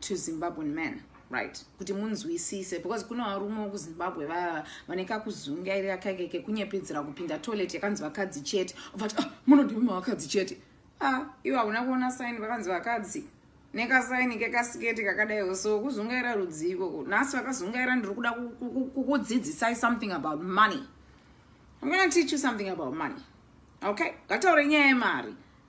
to zimbabwean man right kuti munzwisise because kune varume wekuzimbabwe vaya vane kakuzungairira kaike kekunyepedzera kupinda toilet yakanzi vakadzi chete vati ah, munodimima vakadzi chete a ah, ivo hakuna kuona saini vakanzi vakadzi nekasaini kekasiketi kakadaiwo so kuzungaira rudzii ikoko nhasi vakazungaira ndiri kuda kukudzidzisai something about money i'm gonna teach you something about money okay ngataure nyaya yemari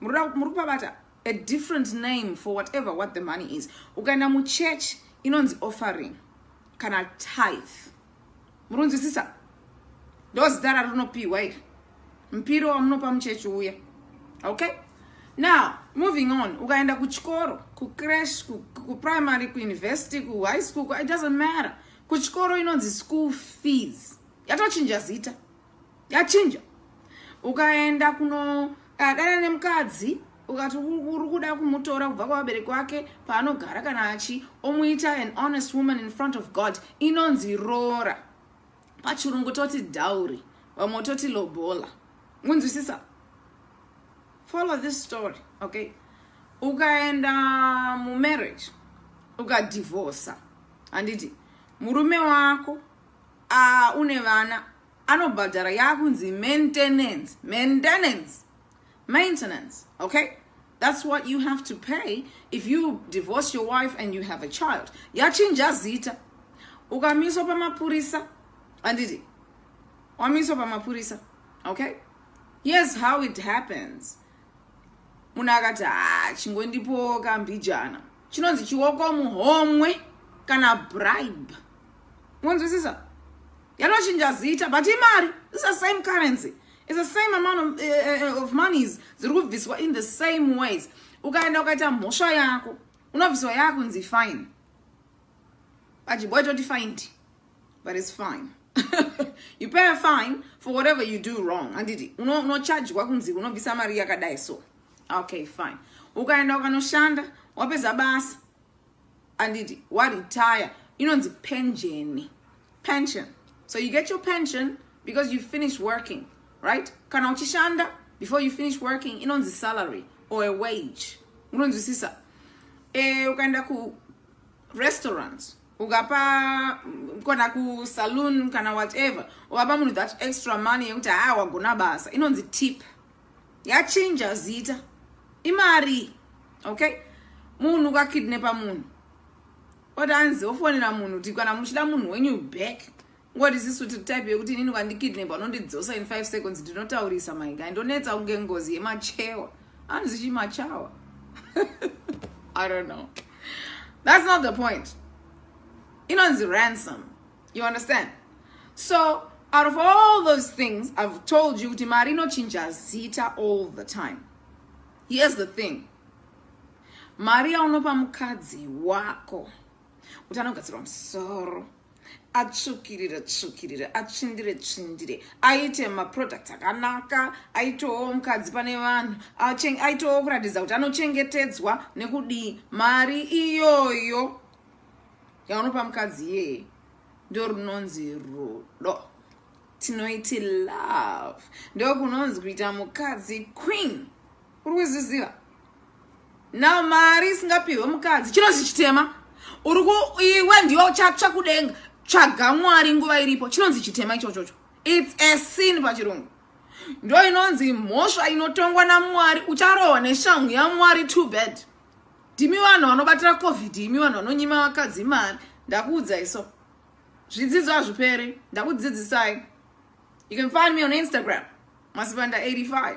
muri kupabata a different name for whatever what the money is ukaenda muchurch inonzi offering kana tithe murunzwisisa ndozita rarinopiwa iri mpiro wamunopa muchechi uya okay now moving on ukaenda kuchikoro kucrash kuprimary kuuniversity kuhigh school it doesn't matter kuchikoro inonzi school fees yatochinja zita yachinja ukaenda kunodadana nemukadzi ukati uri kuda kumutora kubva kwavabereki wake paanogara kana achi omuita an honest woman in front of god inonzi roora pachirungu toti dowry vamwe toti lobola munzwisisa follow this story okay ukaenda mumarriage ukadivorsa handiti murume wako uh, une vana anobhadhara yakunzi maintenance maintenance maintenance okay that's what you have to pay if you divorce your wife and you have a child yachinja zita ukamiswa pamapurisa anditi wamiswa pamapurisa okay here's how it happens munhu akati haa ah, chingondipowo kambijana chinonzi chioko muhomwe kana bribe monzwisisa yanochinja zita but imari is the same currency is the same amount of, uh, of monies dziri kubviswa in the same ways ukaenda ukaita mhosva yako unobviswa yakunzi fine Pajiboi toti find but it's fine you pay a fine for whatever you do wrong handiti unochajwa kunzi unobvisa mari yakadai so okay fine ukaenda ukanoshanda wapedza basa handiti waretire inonzi penjeni pension so you get your pension because you finish working right kana uchishanda before you finish working inonzi salary or a wage unonzwisisa e, ukaenda ku restaurant ukapa kana kusaloon kana whatever ukapa munhu that extra money yekuti haa wagona basa inonzi tip yachinja zita imari okay munhu ukakidnepa munhu oti anzi ofonera munhu kuti kana muchida munhu wenyu back What is this to type yekuti inini ukandikidnap unondidzosa in 5 seconds ndinotaurisa my guy ndonetsa kunge ngozi yemachewa anzi chimachawa i don't know that's not the point inonzi ransom you understand so out of all those things i've told you kuti mari inochinja zita all the time here's the thing mari yaunopa mukadzi wako kuti anogadzirwa musoro atsvukirire tsvukirire atsvindire tsvindire aite maproducts akanaka aitowo mukadzi pane vanhu aitowo kuratidza kuti anochengetedzwa nekudii mari iyoyo yaunopa mukadzi iyeye ndorunonzi rudo tinoiti love ndokunonzi kuita mukadzi queen uri kuzviziva now mari isingapihwe mukadzi chinonzi chitema uri ku iwe ndiwe uchatsva kudenga tsvaga mwari nguva iripo chinonzi chitema ichochocho its a sin pachirungu ndo inonzi mhosva inotongwa namwari ucharohwa neshamhu yamwari too bad ndimi vanhu vanobatira covid imi vanhu vanonyima vakadzi mari ndakuudzai so zvidzidzo hazviperi ndakudzidzisai you can find me on instagram masipanda 85